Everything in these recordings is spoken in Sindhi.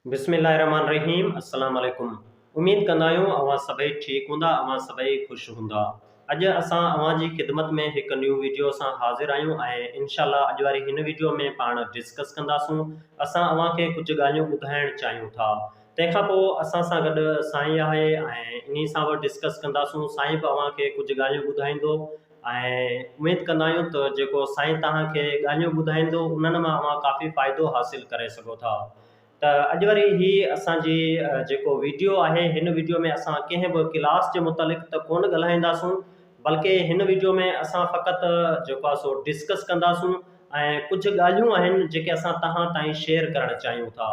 بسم الله الرحمٰن الرحيم السلام عليڪم اميد ڪندا آهيون اوهان سڀئي ٺيڪ هوندا اوهان سڀئي خوش هوندا اڄ اسان اوهان جي خدمت ۾ هڪ نيون ويڊيو سان حاضر آهيون ۽ انشاء الله اڄ واري هن ويڊيو ۾ پاڻ ڊسڪس ڪنداسون اسان اوهان کي ڪجهه ڳالهيون ٻڌائڻ چاهيون ٿا تنهن کان پوء اسان سان گڏ سائين آهي ۽ انهي سان به ڊسڪس ڪنداسون سائين به اوهان کي ڪجهه ڳالهيون ٻڌائيندو ۽ اميد ڪندا آهيون ته جيڪو سائين توهان کي ڳالهيون ٻڌائيندو انهن مان اوهان ڪافي فائدو حاصل ڪري سگهو ٿا ته اڄ وري هي اسان جي جيڪو ويڊيو آهي هن ويڊيو ۾ اسان ڪنهن به ڪلاس جي متعلق ته ڪونه ڳالهائينداسون بلڪه هن ويڊيو ۾ اسان فقط جيڪو آهي سو ڊسڪس ڪنداسون ۽ ڪجهه ڳالهيون آهن جيڪي اسان توهان تائين شيئر ڪرڻ چاهيون ٿا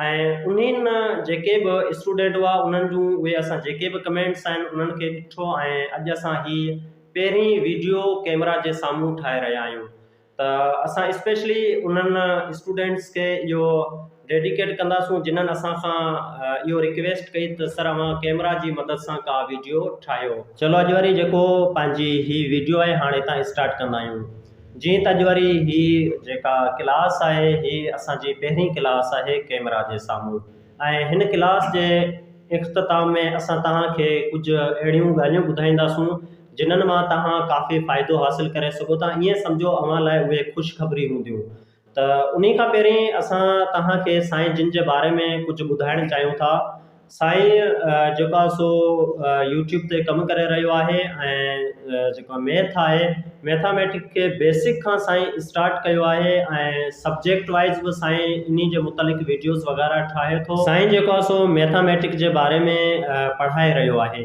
۽ انهن مان جيڪي به اسٽوڊنٽ هئا انهن جون اهي اسان جيڪي به ڪمينٽس آهن انهن کي ڏٺو ۽ اڄ اسان هي پهرين ويڊيو ڪيمرا جي سامهون ٺاهي رهيا آهيون ته اسان اسپيشلي انهن اسٽوڊنٽس کي اهو ڊيڊيڪيٽ ڪنداسون جنهن اسان کان اهو ريڪويسٽ ڪئي ته سر اوهان ڪيمرا جي مدد سان ڪا ويڊيو ٺاهيو چلو اڄ وري جيڪو پنهنجي هي ويڊيو آهي هاڻ هتان اسٽارٽ ڪندا آهيون جيئن ته اڄ واري هي جيڪا ڪلاس آهي هي اسان جي پهرين ڪلاس آهي ڪيمرا جي سامهون ۽ هن ڪلاس جي اختتام ۾ اسان توهان کي ڪجهه اهڙيون ڳالهيون ٻڌائينداسون جنھن مان توهان ڪافي فائدو حاصل ڪري سگهو ٿا ائين سمجهو اوهان لاء اهي خوشخبري هونديون ته انهي کان پهرين اسان توهان کي سائين جن جي باري ۾ ڪجهه ٻڌائڻ چاهيون ٿا. سائين جيڪو آهي سو يوٽيوب تي ڪم ڪري رهيو آهي ۽ جيڪو ميٿ آهي ميٿاميٽڪ کي بيسڪ کان سائين اسٽارٽ ڪيو آهي ۽ سبجيڪٽ وائيز به سائين انهي جي متعلق ويڊيوز وغيره ٺاهي ٿو. سائين جيڪو آهي سو ميٿاميٽڪ جي باري ۾ پڙهائي رهيو آهي.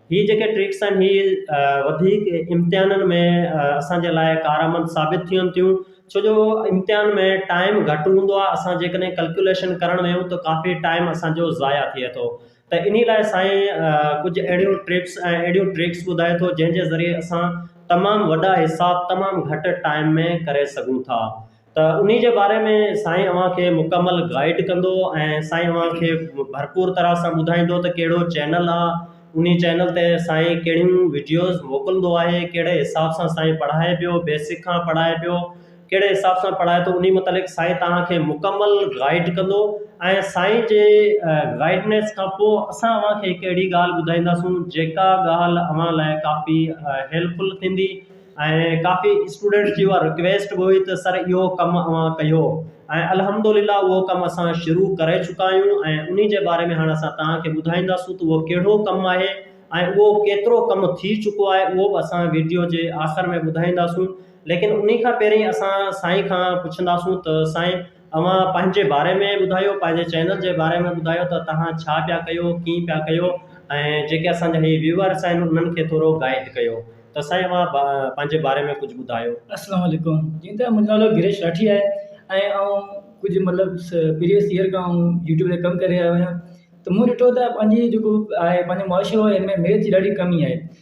هي جيڪي ٽرڪس آهن هي وڌيڪ امتحانن ۾ اسان جي لاء ڪارآمد ثابت ٿين ٿيون ڇو جو امتحان ۾ ٽائيم گهٽ هوندو آهي اسان جيڪڏهن ڪلڪيوليشن ڪرڻ ويهون ته ڪافي ٽائيم اسان جو ضايع ٿئي ٿو ته انهي لاء سائين ڪجهه اهڙيون ٽرپس ۽ اهڙيون ٽرڪس ٻڌائي ٿو جنهن جي ذريعي اسان تمام وڏا حساب تمام گهٽ ٽائيم ۾ ڪري سگهون ٿا ته انهي جي باري ۾ سائين اوهان کي مڪمل گائيڊ ڪندو ۽ سائين اوهان کي ڀرپور طرح سان ٻڌائيندو ته ڪهڙو چينل آ انهي چينل تي سائين ڪهڙيون وڊيوز موڪلندو آهي ڪهڙي حساب سان سائين پڙهائي پيو بيسڪ کان پڙهائي پيو ڪهڙي حساب سان پڙهائي ٿو انهي متعلق سائين توهان کي مڪمل گائيڊ ڪندو ۽ سائين جي گائيڊنس کان پوء اسان اوهان کي هڪ اهڙي ڳالهه ٻڌائينداسون جيڪا ڳالهه اوهان لاء ڪافي هيلپفل ٿيندي ۽ ڪافي اسٽوڊنٽس جي اها رڪويسٽ به هئي ته سر اهو ڪم اوهان ڪيو ۽ الحمد لله اهو ڪم اسان شروع ڪري چڪا آهيون ۽ انهي جي باري ۾ هاڻ اسان توهان کي ٻڌائينداسون ته اهو ڪهڙو ڪم آهي ۽ اهو ڪيترو ڪم ٿي چڪو آهي اهو به اسان ويڊيو جي آخر ۾ ٻڌائينداسون ليڪن انهي کان پهرين اسان سائين کان پڇنداسون ته سائين اوهان پنهنجي باري ۾ ٻڌايو پنهنجي چينل جي باري ۾ ٻڌايو ته توهان ڇا پيا ڪيو ڪيئن پيا ڪيو ۽ جيڪي اسان جا هي ويوئرس آهن انهن کي ٿورو گائيڊ ڪيو ته سائين اوهان پنهنجي باري ۾ ڪجهه ٻڌايو. اسلام عليڪم جي ته منهنجو نالو گريش راٺي آهي ۽ آئون ڪجهه مطلب پريويس ايئر کان آئون يوٽيوب تي ڪم ڪري رهيو آهيان ته مون ڏٺو ته پنهنجي جيڪو آهي پنهنجو معاشرو آهي ان ۾ ميٿ جي ڏاڍي ڪمي آهي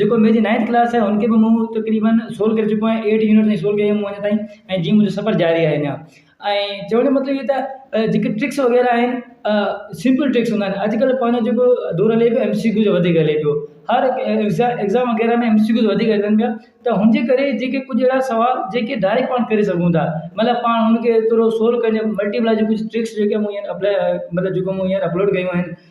جيڪو ميجي نائينٿ ڪلاس آهي ان کي به مون تقريبن سولو ڪري چڪو آهيان ايٽ يونٽ تائين سولو ڪيو مون اڃا تائين ۽ جيئن منهنجو سفر جاري آهي اڃا ۽ چوڻ جو مطلب اهو ته جيڪي ٽرڪس وغيره آهن سمپل ٽرڪس هوندا آهن اڄ ڪلهه پنهنجو جيڪو دور هلي پيو ايم سي ڪيو جو وڌيڪ هلي پيو هر ايگزام وغيره ۾ ايم سي ڪيو جو وڌيڪ هلن پيا ته هن جي ڪري جيڪي ڪجهه اهڙا سوال جيڪي ڊائريڪٽ پاڻ ڪري سگهون ٿا مطلب پاڻ هن کي ٿورو سولو ڪري ملٽي پلاء جي ڪجهه ٽرڪس جيڪي مون هينئر اپلاء مطلب جيڪو مون هينئر اپلوڊ ڪيون آهن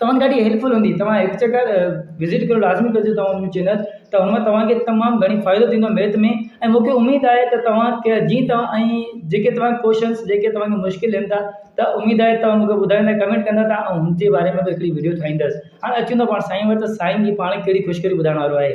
توهان ڏاڍي هيلپفل هوندي توهان هڪ چڪر وزٽ ڪريو لازمي ڪجو توهان منهنجو چينل ته هن مان توهان کي تمام گهڻي فائدو ٿيندو ميٿ ۾ ۽ مون کي اميد آهي ته توهان کي جي توهان ۽ جيڪي توهان جا ڪوشچنس جيڪي توهان کي مشڪل لڳن ٿا ته اميد آهي توهان مون کي ٻڌائيندا ڪمينٽ ڪندا ته آئون هن جي باري ۾ به هڪڙي وڊيو ٺاهيندس هاڻي اچون ٿا پاڻ سائين وٽ ته سائين جي پاڻ ڪهڙي خوشخبري ٻڌائڻ وارو آهي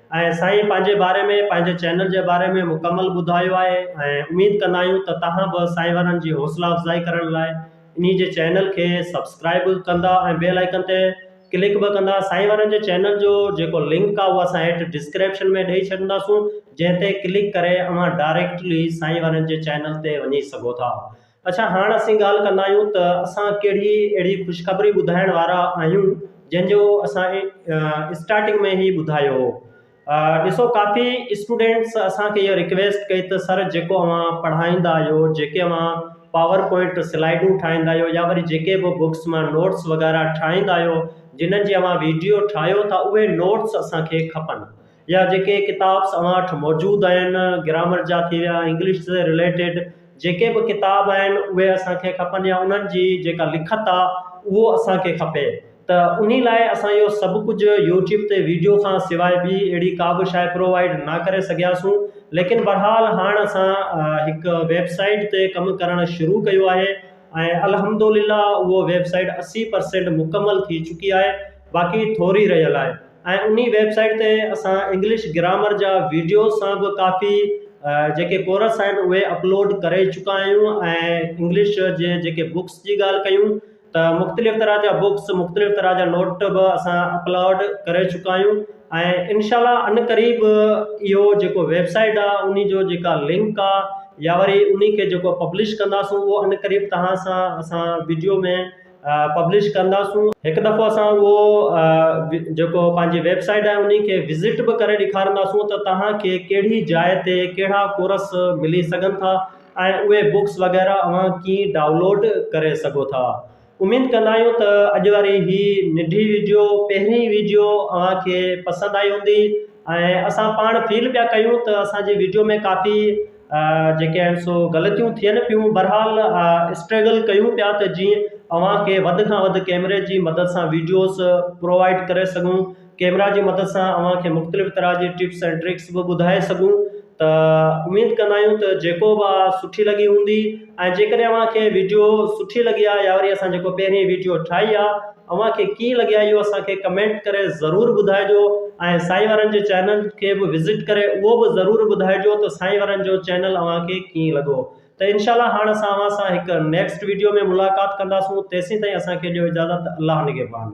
۽ سائين پنهنجي باري ۾ پنهنجي چينل جي باري ۾ مڪمل ٻڌايو آهي ۽ اميد ڪندا آهيون ته توهان به سائين وارن جي حوصلا افزائي ڪرڻ لاء انهي جي چينل کي سبسڪرائيب به ڪندا ۽ بيل آئيڪن تي ڪلڪ به ڪندا سائين وارن جي چينل جو جيڪو لنڪ آهي اهو اسان هيٺ ڊسڪريپشن ۾ ڏئي ڇڏنداسون جنهن تي ڪلڪ ڪري اوهان ڊائريڪٽلي سائين وارن جي چينل تي وڃي سگهو ٿا اڇا هاڻ اسين ڳالهه ڪندا آهيون ته اسان ڪهڙي اهڙي خوشخبري ٻڌائڻ وارا آهيون جنهن جو اسان اسٽارٽنگ ۾ هي ٻڌايو هو ڏسو ڪافي اسٽوڊنٽس اسانکي اهي رڪويسٽ ڪئي ته سر جيڪو اوهان پڙهائيندا آهيو جيڪي اوهان پاور پوائنٽ سلائيڊون ٺاهيندا آهيو يا وري جيڪي به بڪس مان نوٽس وغيره ٺاهيندا آهيو جنهن جي اوهان ويڊيو ٺاهيو ٿا اهي نوٽس اسانکي کپن يا جيڪي ڪتاب اوهان وٽ موجود آهن گرامر جا ٿي ويا انگلش سان رليٽيڊ جيڪي به ڪتاب آهن اهي اسان کي کپن يا انهن جي جيڪا لکت آ اهو اسان کي کپي ته انهي لاء اسان اهو سڀ ڪجهه يوٽيوب تي ويڊيو کان سواء ٻي اهڙي ڪا به شاء پرووائيڊ نه ڪري سگهياسون ليڪن بهرحال هاڻ اسان هڪ ويب سائيٽ تي ڪم ڪرڻ شروع ڪيو آهي ۽ الحمدلله اهو ويب سائيٽ اسي پرسينٽ مڪمل ٿي چڪي آهي باقي ٿوري رهيل آهي ۽ انهي ويب سائيٽ تي اسان انگلش گرامر جا ويڊيوز سان به ڪافي جيڪي ڪورس آهن اهي اپلوڊ ڪري چڪا آهيون ۽ انگلش جي جيڪي بڪس جي ڳالهه ڪيون ته مختلف طرح جا بڪس مختلف طرح جا نوٽ به اسان اپلوڊ ڪري چڪا آهيون ۽ انشاء الله ان قريب اهو جيڪو ويب سائيٽ آ انهي جو جيڪا لنڪ آ يا وري انهي کي جيڪو پبلش ڪنداسون اهو ان قريب توهان سان اسان ويڊيو ۾ پبلش ڪنداسون هڪ دفعو اسان اهو جيڪو پنهنجي ويب سائيٽ آهي انهي کي وزٽ به ڪري ڏيکارنداسون ته توهان کي ڪهڙي جاء تي ڪهڙا ڪورس ملي سگهن ٿا ۽ اهي بڪس وغيره اوهان ڪيئن ڊائونلوڊ ڪري سگهو ٿا اميد ڪندا آهيون ته اڄ واري هي ننڍي ويڊيو پهرين ويڊيو اوهان کي پسند آئي هوندي ۽ اسان پاڻ فيل پيا ڪيون ته اسان جي ويڊيو ۾ ڪافي جيڪي آهن سو غلطيون ٿين پيون بھرحال اسٽريگل ڪيون پيا ته جيئن اوهان کي وڌ کان وڌ ڪيمري جي مدد سان ويڊيوز پرووائيڊ ڪري سگهون ڪيمرا جي مدد سان اوهان کي مختلف طرح جي ٽپس ۽ ٽرڪس به ٻڌائي سگهون ته اميد ڪندا آهيون ته جيڪو به آهي سٺي لڳي هوندي ۽ جيڪڏهن اوهان کي ويڊيو سٺي لڳي آهي يا وري اسان جيڪو پهرين ويڊيو ٺاهي آهي اوهان کي ڪيئن لڳي اهو اسان کي ڪمينٽ ڪري ضرور ٻڌائجو ۽ سائين وارن جي چينل کي به وزٽ ڪري اهو به ضرور ٻڌائجو ته سائين وارن جو چينل اوهان کي ڪيئن لڳو ته انشاء الله هاڻ اسان اوهان سان هڪ نيڪسٽ ويڊيو ۾ ملاقات ڪنداسون تيسين تائين اسان کي ڏيو اجازت الله نگهبان.